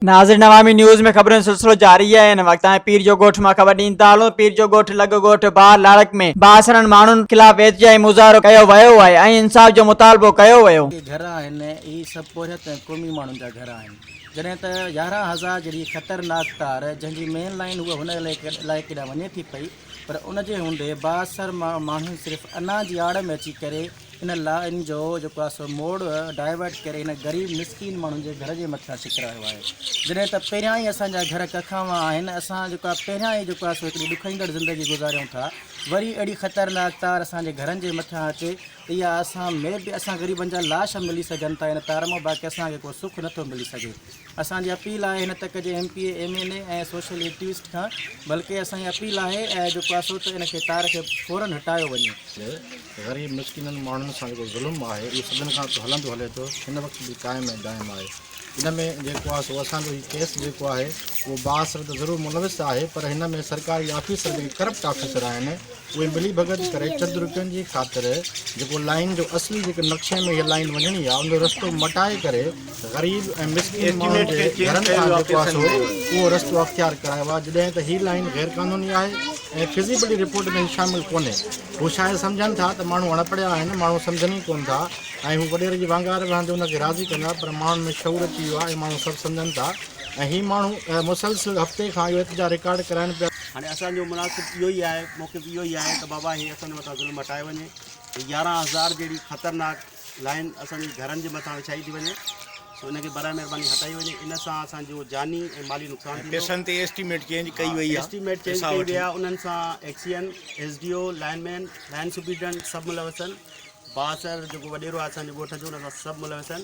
ناظرين عوامي نيوز ۾ خبرن سلسلو جاري آهي ان وقت آهي پير جو ڳوٺ مان خبر ڏين ٿا هلون پير جو ڳوٺ لڳ ڳوٺ بار لاڙڪ ۾ بااثرن ماڻهن خلاف احتجاجي مظاهرو ڪيو ويو آهي ۽ انصاف جو مطالبو ڪيو ويو جي گهر آهن اهي سڀ پورهيت ۽ قومي ماڻهن جا گهر آهن جڏهن ته يارهن هزار جهڙي خطرناڪ تار جنهن جي مين لائين هئا هن علائقي ڏانهن وڃي ٿي پئي پر ان جي هوندي بااثر ماڻهن صرف انا جي آڙ ۾ اچي ڪري ان لائين جو جيڪو آهي سو موڙ ڊائيورٽ ڪري هن غريب مسڪين ماڻهن جي گهر جي مٿان ڇڪرايو آهي جڏهن ته پهريان ئي اسان جا گهر ڪکاوا آهن اسان جيڪو آهي پهريان ئي جيڪو آهي سو هڪڙي ڏکئيندڙ زندگي گذاريون ٿا وري اهڙي خطرناڪ تار اسان جي گهرن جي مٿان اچي ته اها اسان مي بي اسان غريبن جا لاش ملي سگهن ٿا ان تار مان باقي اسان کي ڪو سک نٿو ملي سگهي اسان جي اپيل آهي هن تڪ جي M P A, M N A ۽ social activist کان بلڪه اسان جي اپيل آهي ۽ جو ڪاسو ته ان کي تار کي فورن هٽايو وڃي. غريب مسڪينن ماڻهن سان جيڪو ظلم آهي اهو سدين کان هلندو هلي ٿو هن وقت به قائم ۽ دائم آهي ان ۾ جيڪو آهي سو اسان جو هي ڪيس جيڪو آهي اهو بااثر ته ضرور ملوث آهي پر هن ۾ سرڪاري آفيسر جيڪي ڪرپٽ آفيسر آهن اهي ملي ڀڳت ڪري چند روپين جي خاطر جيڪو لائين جو اصلي جيڪي نقشي ۾ اها لائين وڃڻي آهي ان جو رستو مٽائي ڪري غريب ۽ مسڪين ماڻهن جي گهرن کان جيڪو آهي سو اهو رستو اختيار ڪرايو آهي جڏهن ته هي لائين غير قانوني آهي ۽ فزيبلٽي رپورٽ ۾ هي شامل ڪونهي هو شايد سمجهن ٿا ته ماڻهو اڻ پڙهيا آهن ماڻهو سمجهن ئي ڪون ٿا ۽ هو وڏيري جي وانگار وهندي ان کي راضي ڪندا پر ماڻهن ۾ شعور اچي ويو آهي ۽ ماڻهو سڀ سمجهن ٿا ۽ هي ماڻهو مسلسل هفتي کان اهو احتجاج رڪارڊ ڪرائن پيا هاڻي اسان جو مناسب اهو ئي آهي موقف اهو ئي آهي ته بابا هي اسان جي مٿان ظلم هٽايو وڃي هي يارهن هزار جهڙي خطرناڪ لائين اسان جي گهرن جي مٿان وڇائي ٿي وڃي سو ان کي برائي مهرباني هٽائي وڃي ان سان اسان جو جاني ۽ مالي نقصان ٿيندو پيسن تي ايسٽيميٽ چينج ڪئي وئي آهي ايسٽيميٽ چينج ڪئي وئي آهي انهن سان XEN S D O line man line superintendent سڀ ملوث آهن بااثر جيڪو وڏيرو آهي اسان جي ڳوٺ جو ان سان سڀ ملوث آهن